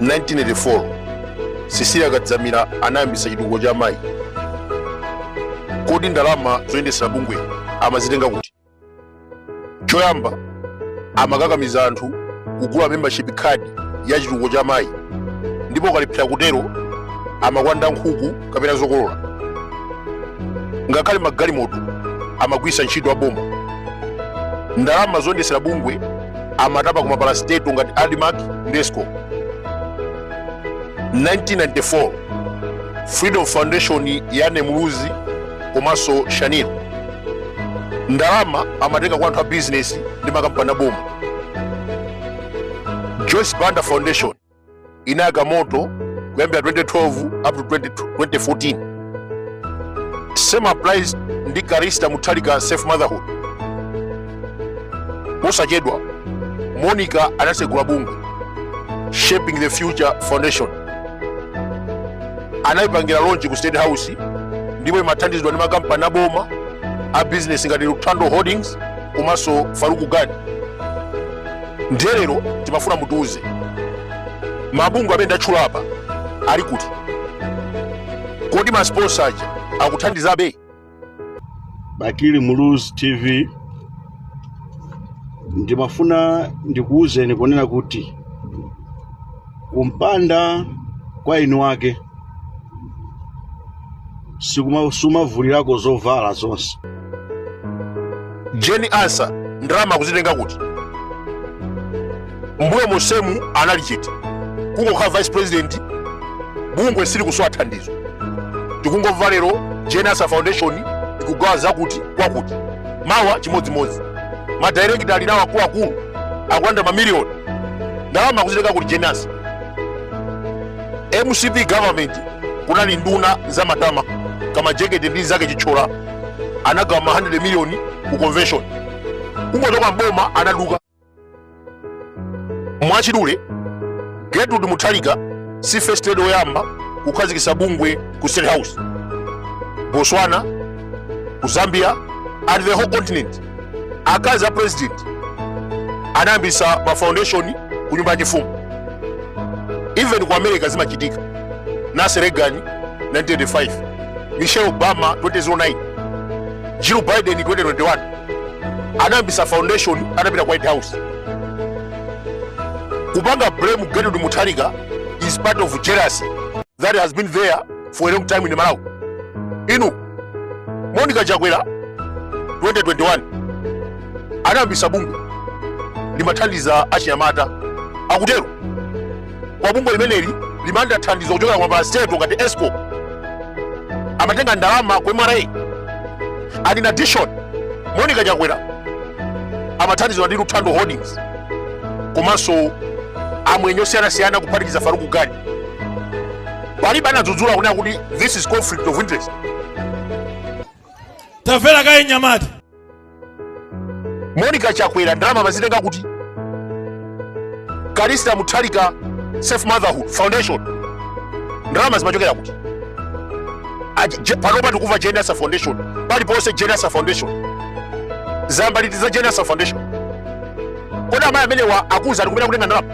1984 Cecilia kadzamira anayambisa chitukuko cha amayi kodi ndalama zoyendesera bungwe amazitenga kuti choyamba amakakamiza anthu kugula membership card ya chitukuko cha amayi ndipo ukalephera kutero amakwanda nkhuku kapena zokolola ngakhale magalimoto amagwiritsa ntchito aboma ndalama zoyendetsera bungwe amatapa ku mapalasteto ngati admarc ndi escom 1994 freedom foundation ya Anne Muluzi komanso shanil ndalama amatenga kwa anthu a bizinesi ndi makampani aboma joyce banda foundation inayaka moto kuyambira 2012 up to 2014 same applies ndi Callista Mutharika safe motherhood posachedwa monica anasegula bungwe shaping the future foundation anayipangira launch ku state house ndipo imathandizidwa ndi makampani aboma a business ngati luthando holdings komanso Farook Gani ndiye lero tikufuna mutiuze mabungwe amene ndatchula apa ali kuti kodi masponsa aja akuthandizabe bakili muluzi tv ndimafuna ndikuwuzeni kunena kuti kumpanda kwa inu wake sumavulirako zovala zonse Jane Ansah ndalama akuzitenga kuti mmbuyo monsemu anali chete kungokhala vice president bungwe silikusowa thandizo tikungomva lero Jane Ansah foundation ikugawa zakuti kwakuti mawa chimodzimodzi madairekita ali nawo akuluakulu akulandira mamiliyoni ndalama akuzitenga kuti Jane Ansah mcp government kunali nduna za matama kama jekete ndi mnzake Chithyola anagawa ma 100 miliyoni ku convention kungochoka mboma anaduka mwachidule gertrude Mutharika si first lady woyamba kukhazikitsa bungwe ku state house botswana ku zambia and the whole continent akazi a president anayambisa ma foundation ku nyumba ya chifumu even ku america zimachitika Nancy Reagan 1985 michelle obama 2009 jill biden 2021 anayambisa foundation atapita ku white house kupanga blame gertrude mutharika is part of jealousy that has been there for a long time in malawi inu Monica Chakwera 2021 anayambisa bungwe limathandiza achinyamata akutero koma bungwe limeneli limalandira thandizo kuchokera kwa mapalaseto ngati escom amatenga ndalama kwa mra and in addition monica chakwera amathandizidwa ndi luthando holdings komanso amwenye osiyanasiyana kuphatikiza faruku gani palibe anadzudzula kunena kuti this is conflict of interest tamvera kaye nyamata monica chakwera ndalama amazitenga kuti callista mutharika safe motherhood foundation ndalama zimachokera kuti panopa tikumva jenasa foundation paliponse jenasa foundation zambaliti za jenasa foundation kodi amayi amenewa akuti ali kumene kutenga ndalama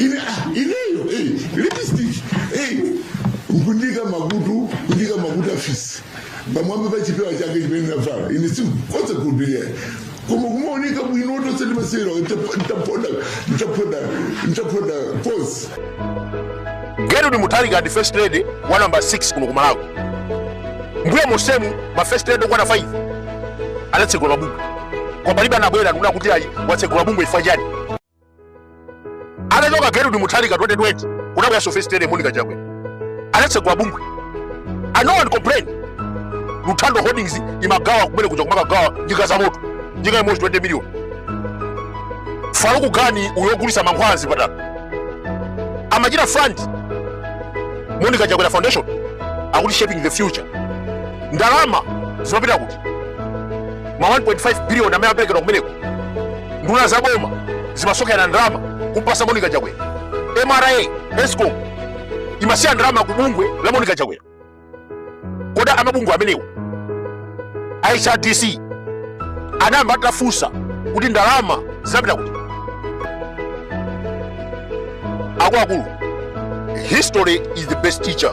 ine ah, ineyo eh, lipstick eh, kundika makutu kundika makutu afisi pamwamba pa chipewa chake chimene navala ine sindingasilire koma kumaoneka bwino tonse timasewera ntapoda ntapoda ntapoda pose gertrude mutharika ndi first lady wa namba 6 kuno ku malawi mbuyo monsemu ma first lady okwana 5 anatsegula mabungwe koma palibe anabwera ndikunena kuti ayi watsegula bungwe ifa chani Atachoka Gertrude Mutharika 2020 kunabwera so first lady Monica Chakwera. Anatsegula bungwe. And no one complained. Luthando Holdings imagawa kumene kuja kumakagawa njinga za moto. Njinga imodzi 20 million. Faruku Gani uyo ogulitsa mankhwala mzipatala. Amachita fund Monica Chakwera Foundation akuti shaping the future. Ndalama zimapita kuti ma 1.5 billion amene amaperekedwa kumeneko nduna za boma zimasonkhera ndalama kumpasa monica chakwera mra escom imasiya ndalama ku bungwe la monica chakwera kodi amabungwe amenewo a hrdc anayamba atafunsa kuti ndalama zinapita kuti akuluakulu history is the best teacher